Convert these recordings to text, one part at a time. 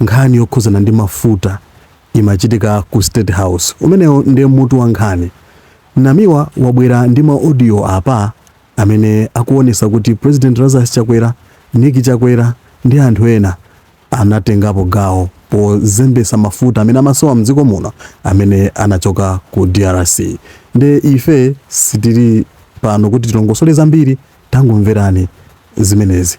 Nkhani yokhudzana ndi mafuta imachitika ku state house. Umenewo ndi mutu wa nkhani. Namiwa wabwera ndi ma audio apa amene akuonesa kuti President Lazarus Chakwera, Nick Chakwera ndi anthu ena anatengapo gawo pozembesa mafuta amene amasowa mdziko muno amene anachoka ku drc. Nde ife sitili pano kuti tilongosole zambiri tangomverani zimenezi.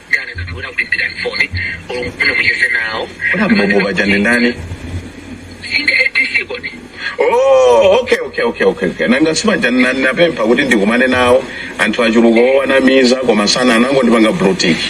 Mboboba chani ndani? Oh, okay, okay, okay, okay, okay. Nanga si paja ndinapempha kuti ndikumane nawo anthu achuluka owanamiza koma sana anangondipanga brutiki.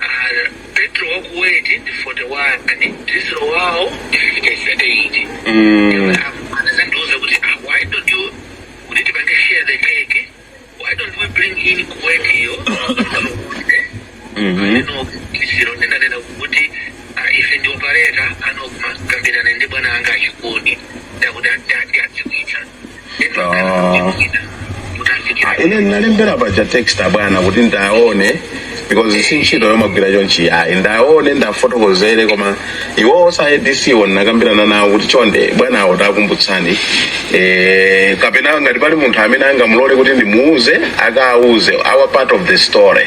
R. Petro wa Kuwaiti ndi 41, Dizilo wawo ndi 58. Mm. Anazandiuza kuti "Ah, why don't you kuti tipange share the cake? Why don't we bring in Kuwaiti yo? Mhm. Ineyo ndinanena kuti "Ah, ife ndi operator nde mukakambirane ndi bwana anga a Chikuni ndakuti ati adziwitsa Ah. ine ndinalembera paja text a bwana kuti ndiwaone because si ntchito yomagwira chonchi ayi ndiwaone ndiwafotokozere koma iwowo a adc wo ndinakambirana nawo kuti chonde bwana awo tawakumbutsani eh, kapena ngati pali munthu amene angamulole kuti ndimuuze akauze our part of the story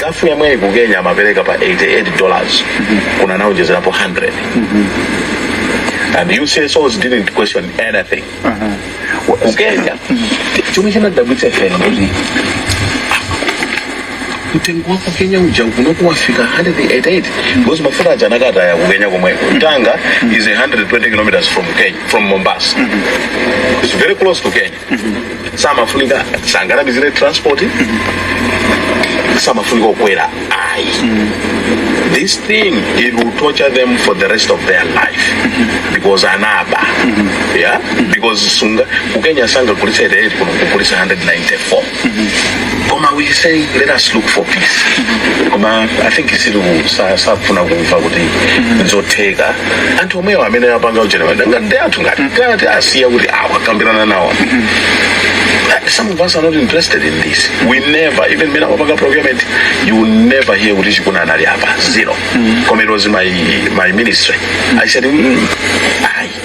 gulf yomweyi ku kenya amapereka pa 88 dollars kuno anaonjezerapo 100 and ucsos didn't question anything ku kenya chomwe chinadabwitsa ife nkuti mtengo wa ku kenya uja kunoku wafika 188 because mafuta aja anakataya ku kenya komweko tanga is 120 kilometers from kenya from mombasa it's very close to kenya samafunika sanganamizire transport samafunika kukwera ayi this thing it will torture them for the rest of their life because anaba yeah because sunga kukenya sanga kulisa ite 8 kuno kukulisa 194 koma we said let us look for peace koma i think isiru sa- safuna kumva kuti nzotheka anthu omwewo amene apanga ujenera ngati anthu ngati ngati asiya kuti awa kambirana nawo Some of us are not interested in this. We never, even mmene amapanga procurement, you will never hear kuti Chikuni anali apa. Zero. Koma it was my my ministry. I said, mm, aye.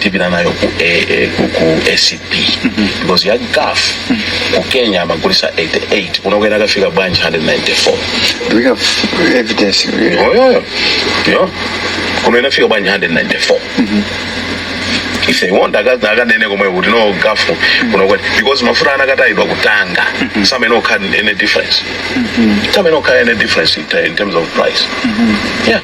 tipita nayo ku, eh, eh, ku, ku acb because ya gulf ku kenya amagulisa 88 kunoku inakafika bwanji 194 Do we have evidence? yeah yeah kuno inafika bwanji 194 if they want akazi akanene komwe kuti no gulf kuno kwati because mafuta anakatayidwa ku tanga simungakhale difference simungakhale difference in, in terms of price yeah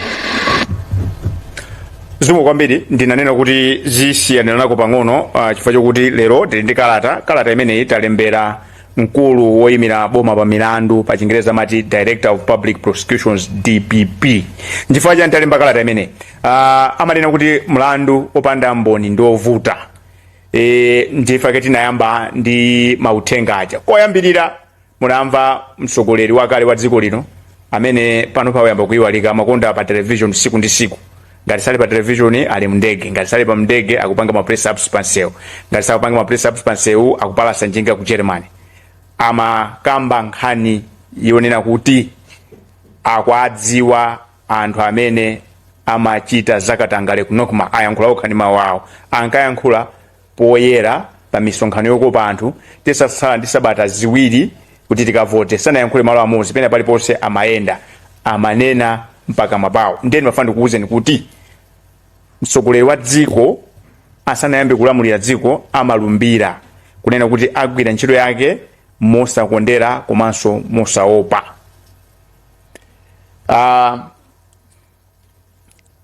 zikomo kwambiri ndinanena kuti zisiyanirako pang'ono uh, chifukwa chokuti lero tili ndi kalata kalata imeneyi talembera mkulu woyimira boma pa milandu pa chingereza amati director of public prosecutions dpp nchifukwa chani talemba kalata imeneyi uh, amanena kuti mlandu opanda mboni ndi ovuta e, nchifukwa chake tinayamba ndi mauthenga aja koyambirira munamva mtsogoleri wakale wa dziko lino amene pano wayamba kuyiwalika amakonda pa television siku ndi siku ngati sali pa television ali mndege ngati sali pa mndege akupanga ma press ups pansewu ngati sakupanga ma press ups pansewu akupalasa njinga ku germany amakamba nkhani yonena kuti akuwadziwa anthu amene amachita zakatangale ku nocma ayankhula okha ndi mawu awo ankayankhula poyera pa misonkhano yokopa anthu titatsala ndi sabata ziwiri kuti tikavote sanayankhule malo amodzi pena paliponse amayenda amanena mpaka mawawo nde ndimafuna ndikuuzeni kuti mtsogoleri wa dziko asanayambe kulamulira dziko amalumbira kunena kuti agwira ntchito yake mosakondera komanso mosaopa uh,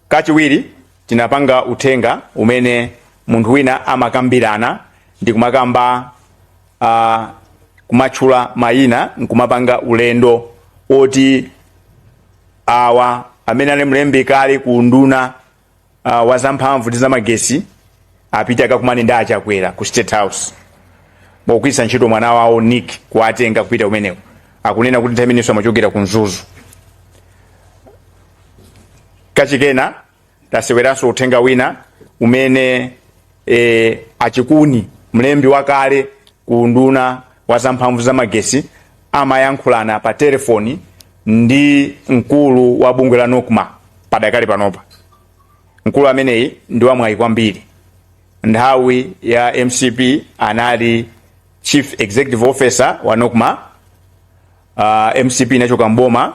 Kachiwiri tinapanga uthenga umene munthu wina amakambirana ndi kumakamba uh, kumatchula mayina nkumapanga ulendo oti awa amene ali mlembi kale ku unduna uh, wa zamphamvu ndi zamagesi apite akakumane ndi a chakwera ku state house pogwiritsa ntchito mwana wawo nick kuwatenga kupita kumeneko akunena kuti nthawi imeneyo amachokera ku mzuzu kachikena taseweranso uthenga wina umene e, a chikuni mlembi wakale ku unduna wa zamphamvu za magesi amayankhulana pa telefoni ndi mkulu wa bungwe la nocma padakali panopa mkulu ameneyi ndi wamwayi kwambiri nthawi ya mcp anali chief executive officer wa nocma uh, mcp inachoka mboma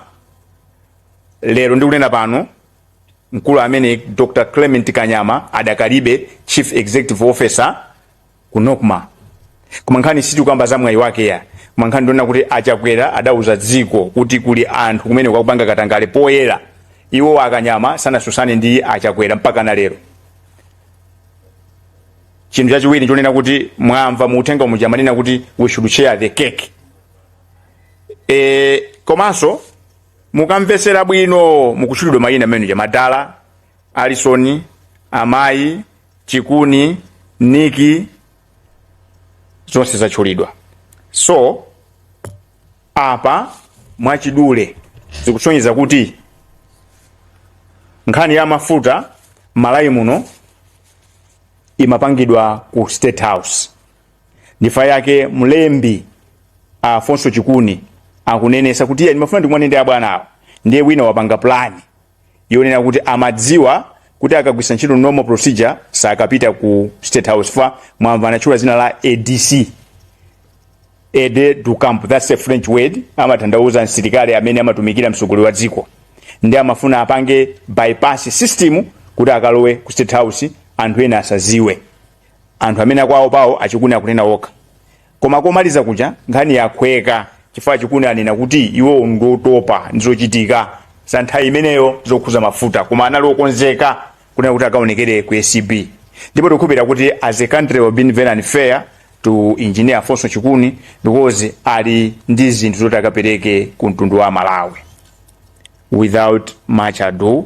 lero ndikunena pano mkulu ameneyi dr clement kanyama adakalibe chief executive officer ku nocma koma nkhani sitikukamba za mwayi wake ya koma nkhani ndi yonena kuti a chakwera adauza dziko kuti kuli anthu kumeneko akupanga katangale poyera iwo a kanyama sanatsutsane ndi a chakwera mpaka na lero chinthu chachiwiri chonena kuti mwamva mu uthenga muja amanena kuti we should share the cake e, komanso mukamvetsera bwino mukutchulidwa mayina amene aja madala alison amayi chikuni niki zonse zatchulidwa so apa mwachidule zikusonyeza kuti nkhani ya mafuta Malawi muno imapangidwa ku state house ndi chifukwa chake mlembi afonso chikuni akunenesa kuti iye ndimafuna ndikumane ndi abwanawo ndiye wina wapanga plani yonena kuti amadziwa kuti akagwiritsa ntchito normal procedure sakapita ku state house chifukwa mwamva anatchula zina la adc aide de camp that's a french word amatanthauza msilikali amene amatumikira mtsogoleri wa dziko nde amafuna apange bypass system kuti akalowe ku state house anthu ena asaziwe anthu amene akwawo pawo achikuni akunena okha Koma komaliza kuja nkhani yakhweka chifukwa Chikuni anena kuti iwowo ndi otopa ndi zochitika za nthawi imeneyo zokhuza mafuta koma anali okonzeka kunena kuti akaonekere ku acb ndipo tikukhulupirira kuti as a country we have been very unfair to engineer Afonso Chikuni because ali ndi zinthu zoti akapereke ku mtundu wa Malawi without much ado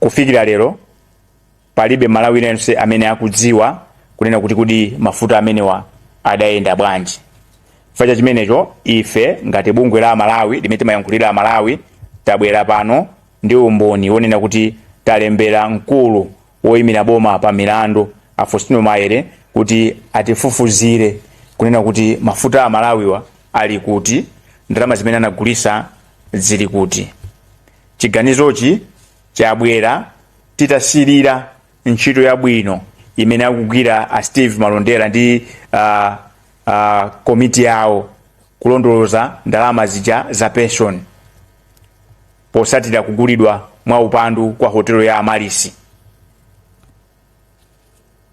Kufikira lero palibe Mmalawi aliyense amene akudziwa kunena kuti kodi mafuta amenewa adayenda bwanji. Chifukwa cha chimenecho ife ngati bungwe la Amalawi limene timayankhulira Amalawi tabwera pano ndi umboni wonena kuti talembera mkulu woyimira boma pa milandu a Faustino Maere kuti atifufuzire kunena kuti mafuta a Amalawiwa ali kuti, ndalama zimene anagulisa zili kuti. Chiganizochi chabwera titasirira ntchito yabwino imene akugwira a Steve Malondera ndi uh, uh, komiti yawo kulondoloza ndalama zija za pension. posatira kugulidwa mwa upandu kwa hotelo ya Amaryllis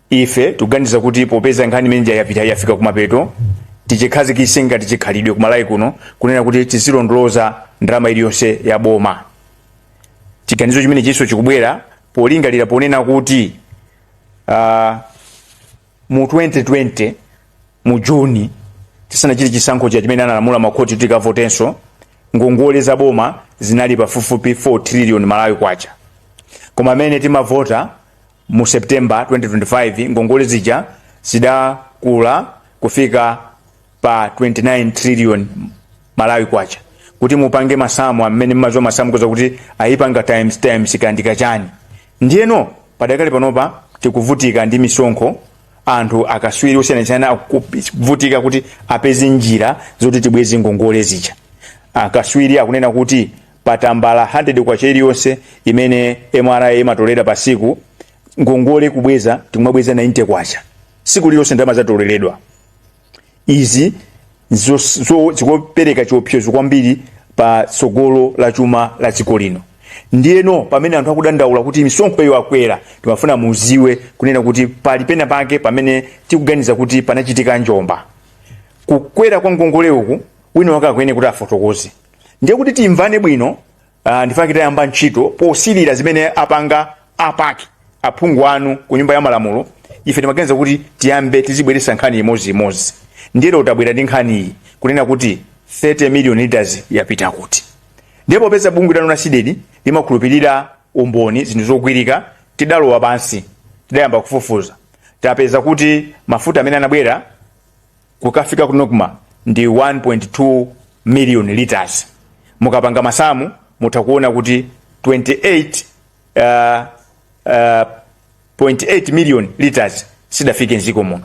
ife tikuganiza kuti popeza nkhani imene ija yapita yafika kumapeto tichikhazikise ngati chikhalidwe ku Malawi kuno kunena kuti tizilondoloza ndalama iliyonse ya boma chiganizo chimenechinso chikubwera polingalira ponena kuti uh, mu 2020 mu juni tisanachite chisankho cha chimene analamula makhoti kuti tikavotenso ngongole za boma zinali pafupifupi 4 trillion malawi kwacha koma mmene timavota mu september 2025 ngongole zija zidakula kufika pa 29 trillion malawi kwacha kuti mupange masamu amene mmaziwa masamu mukhoza kuti ayipanga times times ikandika chani ndiyeno padakali panopa tikuvutika ndi misonkho anthu akaswiri osiyanasiyana akuvutika kuti apeze njira zoti tibweze ngongole zija akaswiri akunena kuti pa tambala 100 kwacha iliyonse imene MRA imatolera pa siku ngongole kubweza tikumabweza 90 kwacha siku lililonse ndalama zatoleredwa Izi nzos- zo- zikupereka chiopsezo kwambiri pa tsogolo la chuma la dziko lino ndiyeno pamene anthu akudandaula kuti misonkho iyo akwera timafuna muziwe kunena kuti pali pena pake pamene tikuganiza kuti panachitika njomba kukwera kwa ngongole uku wina wake akuyenera kuti afotokoze ndiye kuti timvane bwino Uh, nchifukwa chake tayamba ntchito posirira zimene apanga a PAC aphungu anu ku nyumba ya malamulo ife timaganiza kuti tiyambe tizibweretsa nkhani imodziimodzi ndiye lero tabwera ndi nkhaniyi kunena kuti 30 million liters yapita kuti ndiye popeza bungwe lanu la CDEDI limakhulupirira umboni zinthu zogwirika tidalowa pansi tidayamba kufufuza tapeza kuti mafuta amene anabwera kukafika ku NOCMA ndi 1.2 million litres mukapanga masamu mutha kuona kuti 28 uh, uh, 0.8 million litres sidafike mdziko muno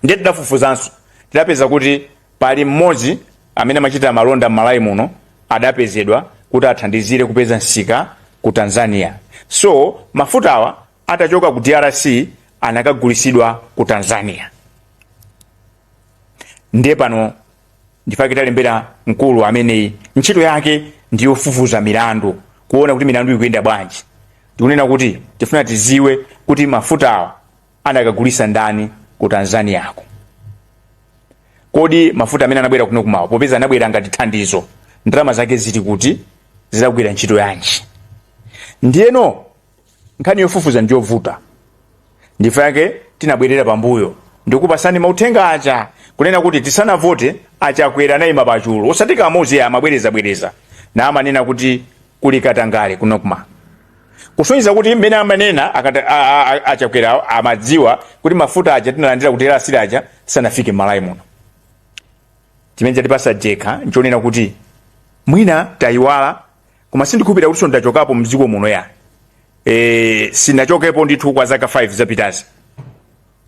ndiye tidafufuzanso tidapeza kuti pali mmodzi amene amachita malonda m'malawi muno adapezedwa kuti athandizire kupeza msika ku tanzania so mafutawa atachoka ku DRC anakagulisidwa ku tanzania ndiye pano nchifukwa chake talembera mkulu amene ntchito yake ndi yofufuza milandu kuona kuti milandu ikuyenda bwanji ndikunena kuti tifuna tiziwe kuti mafutawa anakagulisa ndani ku tanzaniako kodi mafuta amene anabwera kuno ku malawi popeza anabwera ngati thandizo ndalama zake zili kuti zidagwira ntchito yanji ndiyeno Nkhani yofufuza ndiyovuta nchifukwa chake tinabwerera pambuyo ndikupasani mauthenga aja kunena kuti tisanavote a Chakwera anayima pachulu osati kamozi ayi amabwereza bwereza na amanena kuti kuli katangale ku NOCMA kusonyeza kuti mmene amanena akata- a- a- a- a Chakwera awo amadziwa kuti mafuta aja tinalandira ku DRC aja sanafike m'malawi muno chimene chatipasa jenkha nchonena kuti mwina tayiwala koma sindikhulupirira kutinso ndinachokapo mdziko muno ya e, sinachokepo ndithu kwa zaka 5 zapitazi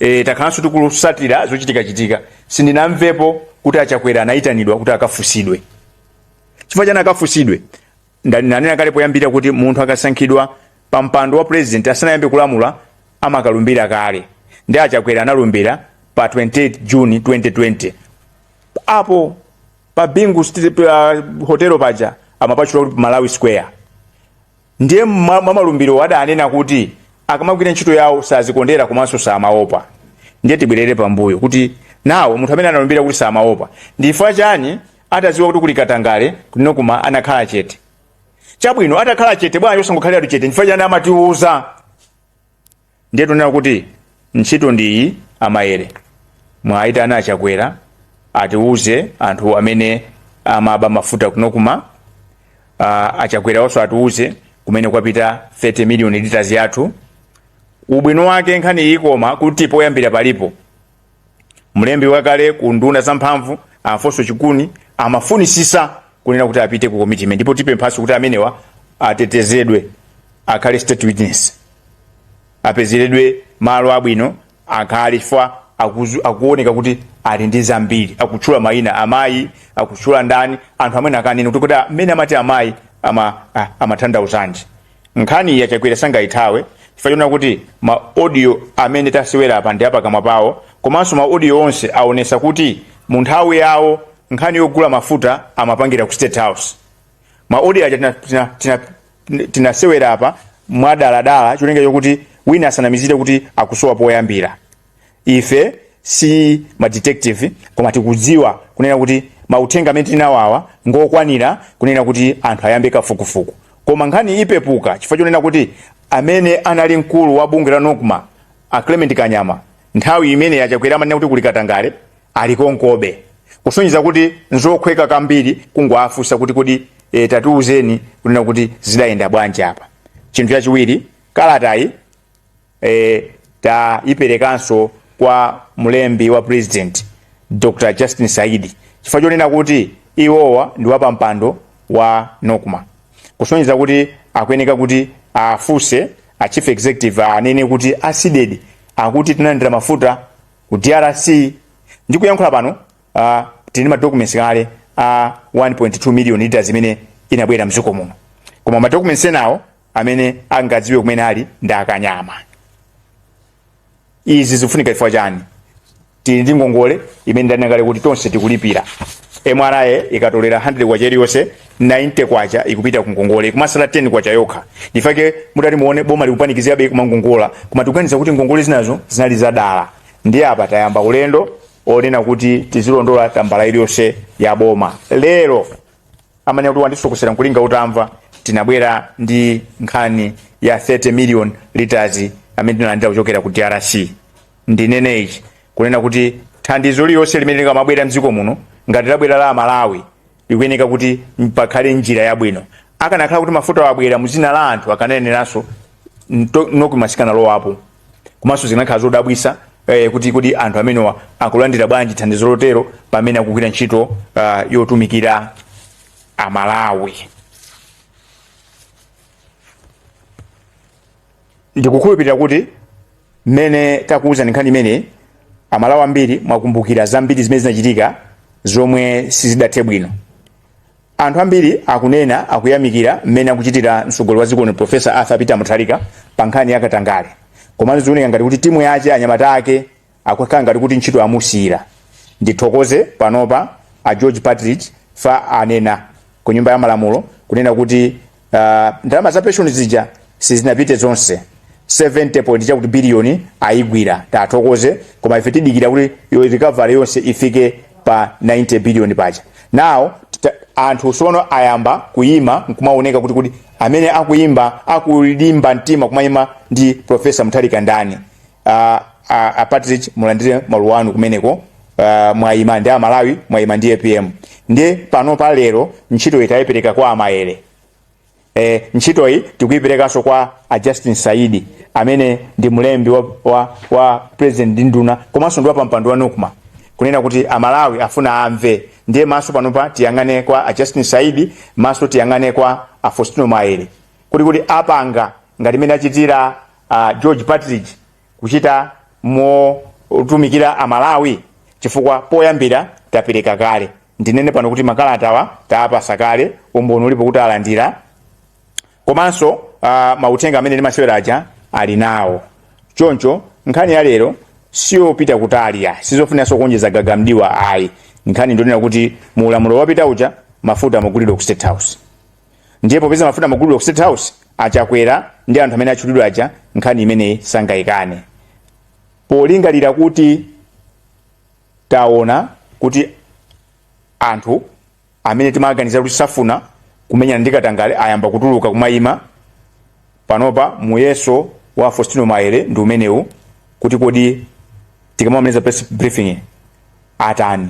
e, takhalanso tikutsatira zochitikachitika sindinamvepo kuti achakwera anayitanidwa kuti akafunsidwe chifukwa chani akafunsidwe ndanena kale poyambira kuti munthu akasankhidwa pa mpando wa president asanayambe kulamulira amakalumbira kale ndi achakwera analumbira pa 28 juni 2020 apo pa bingu street pa hotel paja amapatchula kuti malawi square ndiye mwa mwa malumbiro adanena kuti akamagwira ntchito yawo sadzikondera komanso samaopa ndiye tibwerere pambuyo kuti nawo munthu amene analumbira kuti samaopa ndifa chani atadziwa kuti kuli katangale kuno ku NOCMA anakhala chete chabwino atakhala chete bwanji osangokhalira chete ndifa chani amatiuza Ndiye tunena kuti ntchito ndi iyi a Mayele mwaitana achakwera atiuze anthu amene amaba mafuta ku NOCMA uh, achakwera awonso atiuze kumene kwapita 30 million liters yathu ubwino wake nkhani iyi ikoma kuti poyambira palipo mlembi wakale ku unduna wa zamphamvu alfonso chikuni amafunitsitsa kunena kuti apite ku komiti imeneyi ndipo tipemphanso kuti amenewa atetezedwe akhale state witness apezeredwe malo abwino akhale chifukwa akuzu- akuoneka kuti ali ndi zambiri akutchula mayina amayi akutchula ndani anthu amene akanena kuti kodi amene amati amayi ama, a- amatanthauzanji Nkhaniyi a Chakwera sangaithawe chifukwa choona kuti ma audio amene tasewera apa ndi apakamwa pawo komanso ma audio onse aonesa kuti mu nthawi yawo nkhani yogula mafuta amapangira ku State House. Ma audio aja tinasewera tina, tina, tina tinasewera apa mwadaladala cholinga chokuti wina asanamizire kuti akusowa poyambira. ife si ma detective koma tikudziwa kunena kuti mauthenga amene tinawawa ngokwanira kunena kuti anthu ayambe kafukufuku koma nkhani ipepuka chifukwa chonena kuti amene anali mkulu wa bungwe la nocma a clement kanyama nthawi imeneyi achakwera amanena kuti kuli katangale ali konkobe kusonyeza kuti nzokhweka kambiri kungowafunsa kuti kodi e, tatiuzeni kunena kuti zidayenda bwanji apa chinthu chachiwiri kalatayi e, tayiperekanso kwa mlembi wa president dr justin saidi chifukwa chonena kuti iwowa ndi wapampando wa nocma kusonyeza kuti akuyeneka kuti afunse a chief executive anene kuti a Tshisekedi akuti tinalandira mafuta ku drc ndi kuyankhula pano uh, tili ndi madocuments kale a 1.2 million liters imene inabwera mdziko muno koma madocuments enawo amene angadziwe kumene ali ndi akanema izi zikufunika chifukwa chani tili ndi ngongole imene ndanena kale kuti tonse tikulipira mra ikatolera 100 kwacha iliyonse 90 kwacha ikupita ku ngongole kumatsala 10 kwacha yokha ndifake mutati muone boma likupanikizirabe kumangongola koma tikuganiza kuti ngongole zinazo zinali za dala ndiye apa tayamba ulendo onena kuti tizilondola tambala iliyonse ya boma lero amanena kuti wandisokosera nkulinga utamva tinabwera ndi nkhani ya 30 million liters amene tinalandira kuchokera ku drc ndinene ichi kunena kuti thandizo lililonse limene likamabwera mdziko muno ngati labwera la amalawi likuyeneka kuti pakhale njira yabwino akanakhala kuti mafutawa abwera muzina la anthu akanayeneranso nto- nokomatsika nalowapo komanso zinakhala zodabwisa eh, kuti kodi anthu amenewa akulandira bwanji thandizo lotero pamene akugwira ntchito uh, yotumikira amalawi ndikukhulupirira kuti mmene takudza nkhani imeneyi amalawi ambiri mwakumbukira zambiri zimene zinachitika zomwe sizidathe bwino Anthu ambiri akunena akuyamikira mmene akuchitira mtsogoleri wa dziko lino Professor Arthur Peter Mutharika pa nkhani ya katangale, komano zikuoneka ngati kuti timu yake anyamata ake akukhala ngati kuti ntchito amusiyira. Ndithokoze panopa a George Partridge ifa anena ku nyumba ya malamulo kunena kuti uh, ndalama za pension zija sizinapite zonse 70 point chakuti billion ayigwira tithokoze koma ife tidikira kuti yo- recovery yonse ifike pa 90 billion paja now tita- anthu sono ayamba kuyima nkumaoneka kuti kuti amene akuyima akulimba mtima kumayima ndi profesa mutharika ndani a, a, a Partridge mulandire maluwa anu kumeneko uh, mwayima ndi amalawi mwayima ndi apm ndiye pano pa lero ntchito tayipereka kwa a mayere eh, ntchito iyi tikuyiperekanso kwa a justin saidi amene ndi mlembi wa, wa, wa president ndi nduna komanso ndi wapampando wa nocma kunena kuti amalawi afuna amve ndiye maso panopa tiyang'ane kwa a justin saidi maso tiyang'ane kwa a faustino mayere kuti kuti apanga ngati mmene achitira a George Partridge kuchita motumikira Amalawi chifukwa poyambira tapereka kale. Ndinene pano kuti makalatawa tawapatsa kale, umboni ulipo kuti alandira komanso uh, mauthenga amene ndimasewera aja ali nawo. Choncho nkhani ya lero siyopita kutali ayi sizofunanso kuonjeza gaga m'diwa ayi, nkhani ndionena kuti mu ulamuliro wapitawu uja mafuta amagulidwa ku State House. ndiye popeza mafuta amagulidwa ku state house achakwera ndi anthu amene atchulidwa aja nkhani imeneyi sangayikane polingalira kuti taona kuti anthu amene timaganiza kuti safuna kumenyana ndi katangale ayamba kutuluka kumayima panopa muyeso wa a faustino maere ndi umenewu kuti kodi tikamamaliza press briefing atani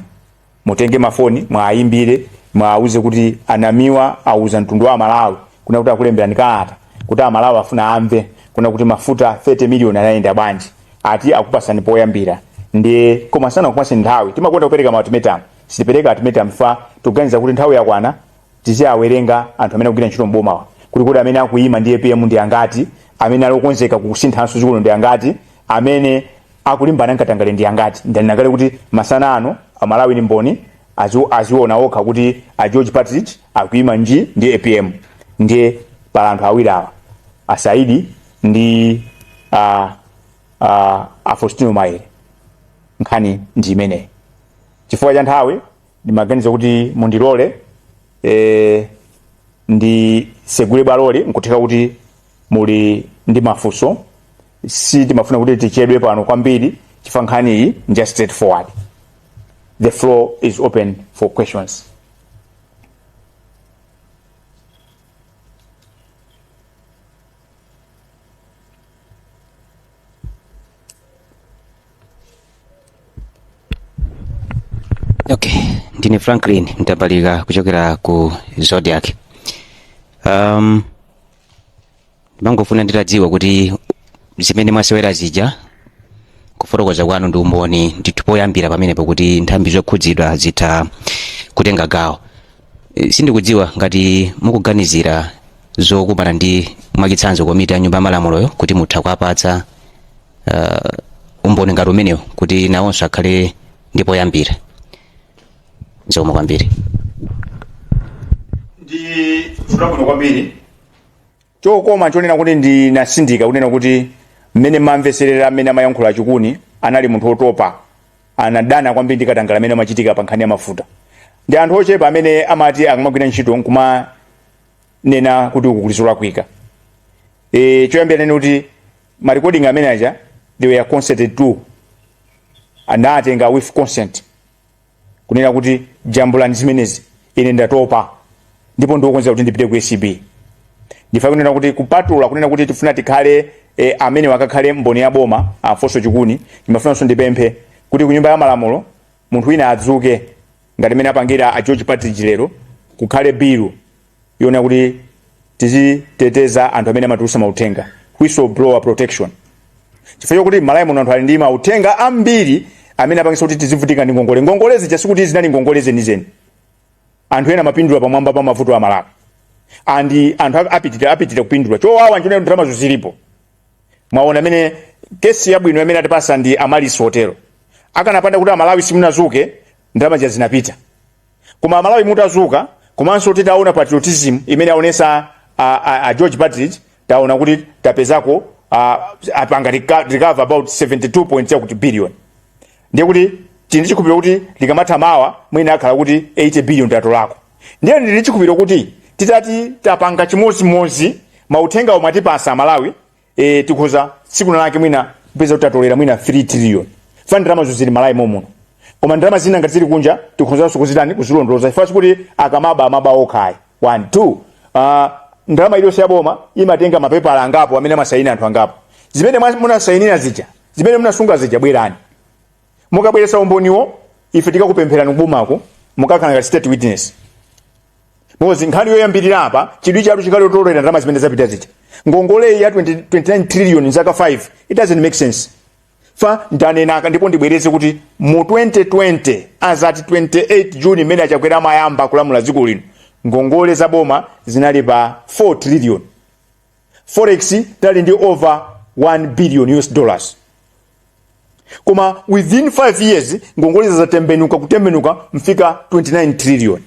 Mutenge mafoni mwaimbire muwauze kuti anamiwa auza mtundu wa malawi kuna kuti akulemberani kalata kuti amalawi afuna amve kuna kuti mafuta 30 miliyoni anayenda bwanji ati akupatsani poyambira ndiye koma sanakupatseni nthawi timakonda kupereka ma ultimatum sitipereka ultimatum fa tikuganiza kuti nthawi yakwana tiziawerenga anthu amene akugwira ntchito mbomawa kuti kuti amene akuyima ndi apm ndi angati amene ali okonzeka kusinthanso dziko lino ndi angati amene akulimbana nkatangale ndi angati ndanena kale kuti masana ano amalawi ndi mboni azi- aziona okha kuti a george partridge akuima nji ndi apm ndiye pala anthu awiri awa a saidi ndi a, a, a faustino maere nkhani ndi imeneyi chifukwa cha nthawi ndimaganiza kuti mundilole eh, ndisegule bwaloli nkutheka kuti muli ndi mafunso sitimafuna kuti tichedwe pano kwambiri chifukwa nkhani iyi nja straight forward the floor is open for questions okay ndine franklin mtambalika kuchokera ku zodiak um, ndimangofuna nditadziwa kuti zimene mwasewera zija kufotokoza kwanu ndi umboni ndithu poyambira pamenepo kuti nthambi zokhudzidwa zitha kutenga gawo Eh, sindikudziwa ngati mukuganizira zokumana ndi mwachitsanzo komiti ya nyumba ya malamuloyo kuti mutha kuwapatsa uh, umboni ngati umenewo kuti nawonso akhale ndi poyambira zikomo kwambiri ndi funso labwino kwambiri koma chonena kuti nditsindike kunena kuti mmene mwamvetserera mmene amayankhula a chikuni anali munthu otopa anadana kwambiri ndi katangale amene amachitika pa nkhani ya mafuta ndi anthu ochepa amene amati akamagwira ntchito nkumanena kuti uku kuli zolakwika e, choyambirira ndinene kuti ma recording amene aja they were consented to anatenga with consent kunena kuti jambulani zimenezi ine ndatopa ndipo ndili okonzeka kuti ndipite ku acb ndifuna kunena kuti kupatula kunena kuti tifuna tikhale e, amene wakakhale mboni ya boma alfonso chikuni ndimafunanso ndipemphe kuti ku nyumba ya malamulo munthu wina adzuke ngati mmene apangira a george partridge lero kukhale bilu yona kuti tiziteteza anthu amene amatulutsa mauthenga whistleblower protection chifukwa chokuti malawi muno anthu ali ndi mauthenga ambiri amene apangisa kuti tizivutika ndi ngongole ngongole zija sikuti zinali ngongole zenizeni anthu ena amapindula pamwamba pa mavuto a malawi and anthu apitirabe kupindula chowawa nchonena kuti ndalamazo zilipo mwaona amene kesi yabwino yamene atipasa ndi Amaryllis hotelo akanapanda kuti amalawi simunadzuke ndalama zija zinapita Koma amalawi mutadzuka komanso titaona patriotism imene aonesa a, a, a George Partridge taona kuti tapezako a, apanga reco- recover about 72 point chakuti billion ndiye kuti tili ndi chikhulupiriro kuti likamatha mawa mwina akhala kuti 80 billion tatolako ndiye ndili ndi chikhulupiriro kuti titati tapanga chimodzimodzi mauthenga omwe atipasa amalawi e, tikhoza tsiku lake mwina kupeza kuti tatolera mwina 3 trillion fa ndalama zo zili Malawi momuno koma ndalama zina ngati zili kunja tikhonzanso kuzitani kuzilondoloza chifukwa kuti akamaba amaba okha ayi 1 2 uh, ndalama iliyonse ya boma imatenga mapepala angapo amene amasayina anthu angapo zimene mwa- munasayinira zija zimene munasunga zija bwerani mukabweretsa umboniwo ife tikakupempherani kubomako mukakhala ngati state witness because nkhani yoyambirira apa chidwi chatu chikali otolera ndalama zimene zapita zija ngongoleyi ya 20 29 trillion zaka 5 it doesn't make sense fa ndanenako ndipo ndibwereze kuti mu 2020 azati 28 juni imene achakwera amayamba kulamula dziko lino ngongole za boma zinali pa 4 trillion forex tinali ndi over 1 billion us dollars koma within 5 years ngongolezo zatembenuka kutembenuka kufika 29 trillion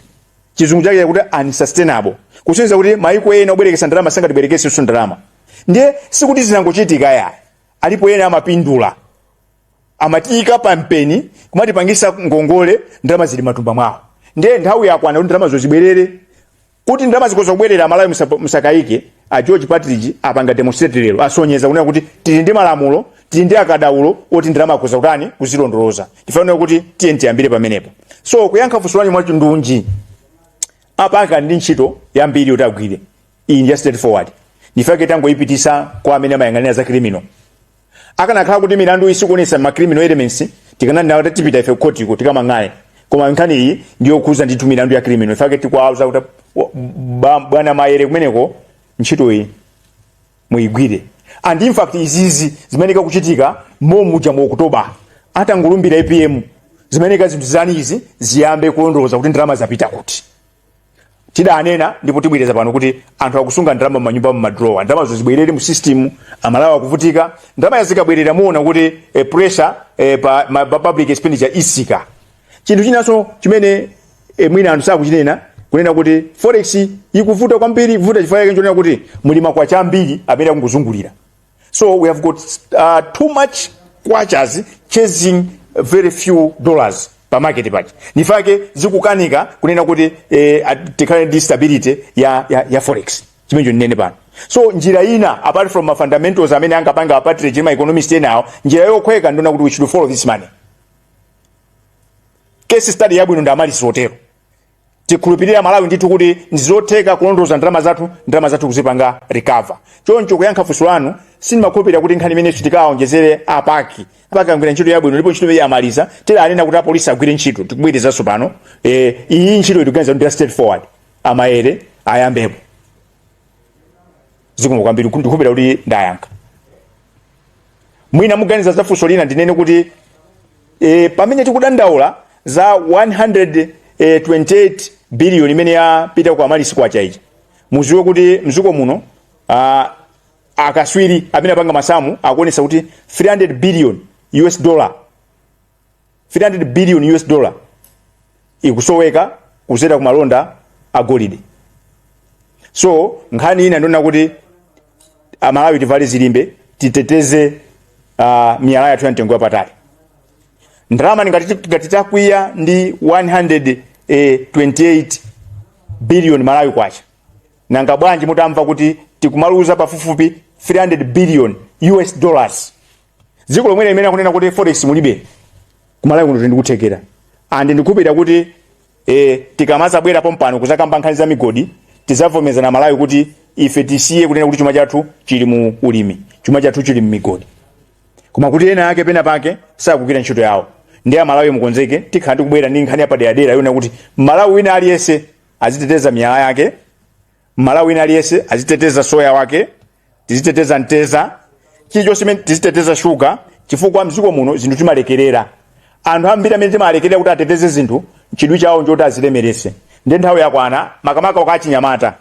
chizungu chake chakuti unsustainable kusonyeza kuti maiko ena obwerekesa ndalama sangatibwerekesenso ndalama ndiye sikuti zinangochitika ayi alipo ena amapindula amatiyika pa mpeni kumatipangisa ngongole ndalama zili matumba mwawo ndiye nthawi yakwana kuti ndalama zo zibwerere kuti ndalama zikhoza kubwerera amalawi musa- musakayike a george Partridge apanga demonstrate lero asonyeza kunena kuti tili ndi malamulo tili ndi akadaulo oti ndalama akhoza kutani kuzilondoloza tifunika kuti tiye tiyambire pamenepo so kuyankha funso lanu mwachindunji apa akali ndi ntchito yambiri yoti agwire iyi ndi ya straightforward ndifake tangoyipititsa kwa amene amayang'anira za criminal akanakhala kuti milandu iyi sikuonesa ma criminal elements tikananena kuti tipita ife kukhotiku tikamang'ale koma nkhani iyi ndiyokhuza ndithu milandu ya criminal ndifake tikuwauza kuti wa- ba- bwana Maere kumeneko ntchito iyi muyigwire and in fact izizi zimayeneka kuchitika momuja mu oktoba atangolumbira APM zimayeneka zinthu zani izi ziyambe kulondoloza kuti ndalama zapita kuti tidanena ndipo tibwereza pano kuti anthu akusunga ndalama m'manyumba m'madrowa ndalamazo zibwerere mu system amalawi akuvutika ndalama yazikabwerera muona kuti eh, pressure eh, pa ma, pa public expenditure isika chinthu chinanso chimene eh, mwina anthu sakuchinena kunena kuti forex ikuvuta kwambiri ikuvuta chifukwa chake nchonena kuti muli makwacha ambiri amene akungozungulira So we have got uh, too much kwachas chasing very few dollars pa market paja nifake zikukanika kunena kuti eh, at- tikhale ndi stability ya, ya, ya forex chimenecho ndinene pano so njira ina apart from ma fundamentals amene angapanga a Partridge ndi ma economist enawo njira yokhweka ndiyonena kuti we should follow this money case study yabwino ndi Amaryllis Hotel Tikhulupirire amalawi ndithu kuti ndizotheka kulondoloza ndalama zathu, ndalama zathu kuzipanga recover. Choncho kuyankha funso lanu, sindimakhulupirira kuti nkhani imeneyi sitikawonjezere a pac. A pac agwira ntchito yabwino ndipo ntchito imeneyi amaliza, tili anena kuti a police agwire ntchito, tikubwerezanso pano, eh, iyi ntchito tikuganiza kuti ndi ya straight forward, a Maele ayambepo. Zikomo kwambiri, ndikukhulupirira kuti ndayankha. mwina muganiza za funso lina ndinene kuti e, pamene tikudandaula za 128 billion imene yapita ku amaryllis kwacha ija muziwe kuti mziko muno uh, akaswiri amene apanga masamu akuonesa kuti 300 billion us dollar 300 billion us dollar ikusoweka kuzera ku malonda a golide so nkhani ina ndiyonena kuti amalawi tivale zilimbe titeteze uh, miyala yathu ya mtengo wapatali ndalama ngati ngati takwiya ndi 128 billion malawi kwacha nanga bwanji mutamva kuti tikumaluza pafupifupi 300 billion us dollars dziko lomwe limene akunena kuti forex mulibe kumalawi kuno tili ndi kuthekera and ndikhulupirira kuti e, tikamazabwera pompano kuzakamba nkhani za migodi tizavomerezana amalawi kuti ife tisiye kunena kuti chuma chathu chili mu ulimi chuma chathu chili mmigodi koma kuti ena ake pena pake sakugwira ntchito yawo ndiye amalawi mukonzeke tikhala tikubwera ndi nkhani yapaderadera yonena kuti mmalawi wina aliyense aziteteza miyala yake mmalawi wina aliyense aziteteza soya wake tiziteteza mteza chilichonse chimene tiziteteza shuga chifukwa mdziko muno zinthu timalekerera anthu ambiri amene timalekerera kuti ateteze zinthu chidwi chawo nchoti azilemerese ndiye nthawi yakwana makamaka kwa achinyamata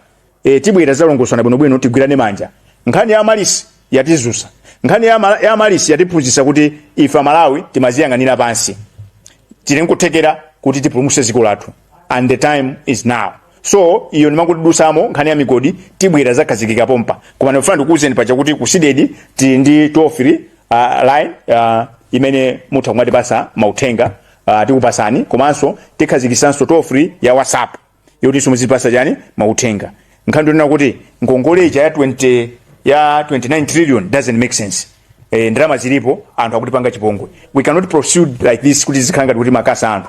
e, tibwera zalongosana bwinobwino tigwirane manja nkhani ya amaryllis yatizusa nkhani ya, mala, ya amaryllis yatiphunzitsa kuti ife amalawi timaziyang'anira pansi tili nkuthekera kuti tipulumutse dziko lathu and the time is now so iyo ndimangoti ndidutsamo nkhani ya migodi tibwera zakhazikika pompa koma ndikufuna ndikuwuzeni paja kuti ku cdedi tili ndi toll free uh, line uh, imene mutha kumatipatsa mauthenga uh, tikupatsani komanso tikhazikitsanso toll free ya whatsapp yotinso muzitipatsa chani mauthenga nkhani ndi yonena kuti ngongole ija ya 20 ya 29 trillion doesn't make sense eh, ndalama zilipo anthu akutipanga chipongwe we cannot proceed like this kuti zikhala ngati kuti makasa anthu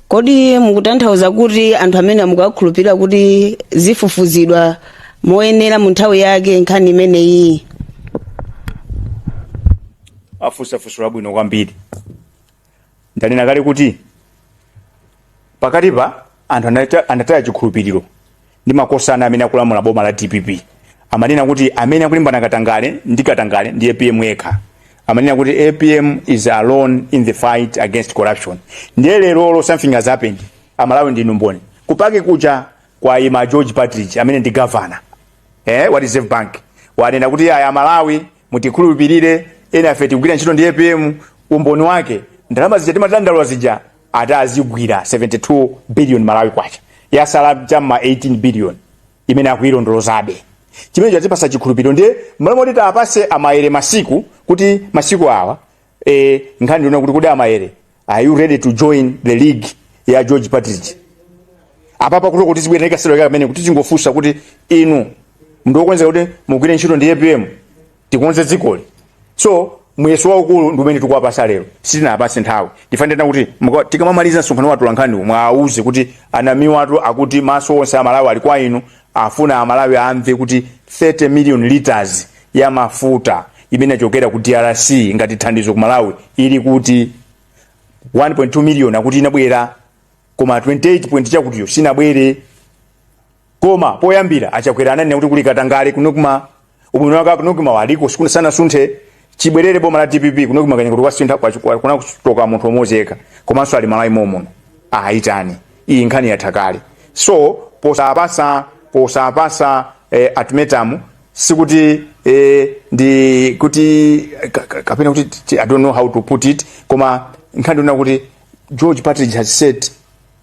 kodi mukutanthauza kuti anthu amene mukuwakhulupirira kuti zifufuzidwa moyenera mu nthawi yake nkhani imeneyi afunsa funso labwino kwambiri ndanena kale kuti pakatipa anthu anata- anataya chikhulupiriro ndi makosana amene akulamula boma la dpp amanena kuti amene akulimbana katangale ndi katangale ndi apm yekha amanena kuti apm is alone in the fight against corruption ndiye lerolo something has happened amalawi ndinu mboni kutacha kucha kwaima george partridge amene ndi governor eh, wa reserve bank wanena kuti ayi amalawi mutikhulupirire ena afe tikugwira ntchito ndi apm umboni wake ndalama zija timadandaula zija ati azigwira 72 billion malawi kwacha yasala cha m'ma 18 billion imene akuyilondolozabe chimene chatipatsa chikhulupiriro ndiye mmalo moti tiwapatse amayele masiku kuti masiku awa e, nkhani ndi yonena kuti kodi amayele are you ready to join the league ya george partridge apapa kuti kuti zibwera ikasero kamene kuti tingofunsa kuti inu ndinu wokonzeka kuti mugwire ntchito ndi apm tikonze dzikoli so muyeso waukulu ndi umene tikuwapatsa lero sitinawapatse nthawi tikunena kuti muka- tikamamaliza msonkhano wa atolankhani muwauze kuti a namiwatu akuti maso onse amalawi ali kwa inu afuna amalawi amve kuti 30 million liters ya mafuta imene yachokera ku drc ngati thandizo ku malawi ili kuti 1.2 million akuti inabwera koma 28 point chakutiyo sinabwere Koma poyambira a Chakwera ananena kuti kuli katangale ku Nocma, ubwino wake a ku Nocma wa aliko sikuna sanasunthe, chibwerere boma la dpp ku Nocma kaya ngati kwasintha kwa- kwa- kuna kuchoka munthu mmodzi yekha komanso ali Malawi momuno ayitani iyi nkhani yatha kale so posapatsa posapatsa eh, ultimatum sikuti eh, ndi kuti ka- ka- kapena kuti ti- i don't know how to put it koma nkhani ndi yonena kuti george partridge has said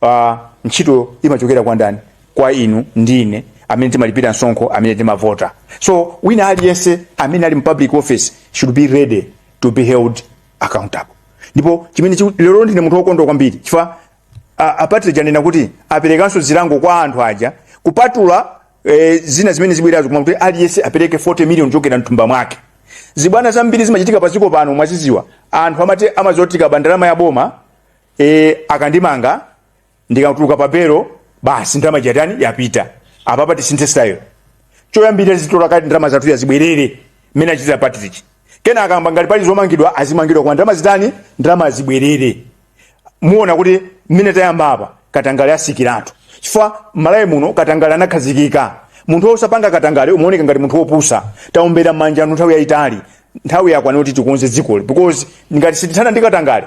Pa ntchito imachokera kwa ndani? Kwa inu ndi ine amene timalipira msonkho, amene timavota. So wina aliyense amene ali mu public office should be ready to be held accountable. Ndipo chimene chiku- lero ndine munthu wokondwa kwambiri chifukwa a- a partridge anena kuti aperekanso zilango kwa anthu aja kupatula eh, zina zimene zibwerazo koma kuti aliyense apereke 40 million kuchokera mthumba mwake zibwana zambiri zimachitika padziko pano mwaziziwa anthu amati ah mazoti kuba ndalama ya boma e, akandimanga ndikatuluka pa belo basi ndalama ija yatani yapita apapa tisinthe style choyambira tizitolako ndalama zathu ija zibwerere mmene achitira patrick kena akamba ngati pali zomangidwa azimangidwa koma ndalama zitani ndalama zibwerere muona kuti mmene tayamba apa katangale asikiratu chifukwa malawi muno katangale anakhazikika munthu osapanga katangale umaoneka ngati munthu wopusa taombera manja anu nthawi yaitali nthawi yakwana kuti tikonze dzikoli because ngati sitithana ndi katangale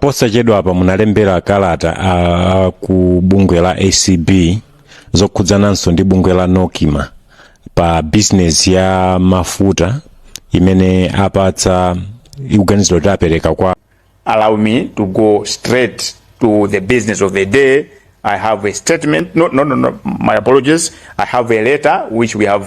posachedwapa munalembera kalata a ku bungwe la acb zokhudzananso ndi bungwe la nocma pa bizinesi ya mafuta imene apatsa ikuganiziridwa kuti apereka kwa allow me to go straight to the business of the day. I have a statement. No, no, no, no. My apologies. I have a letter which we have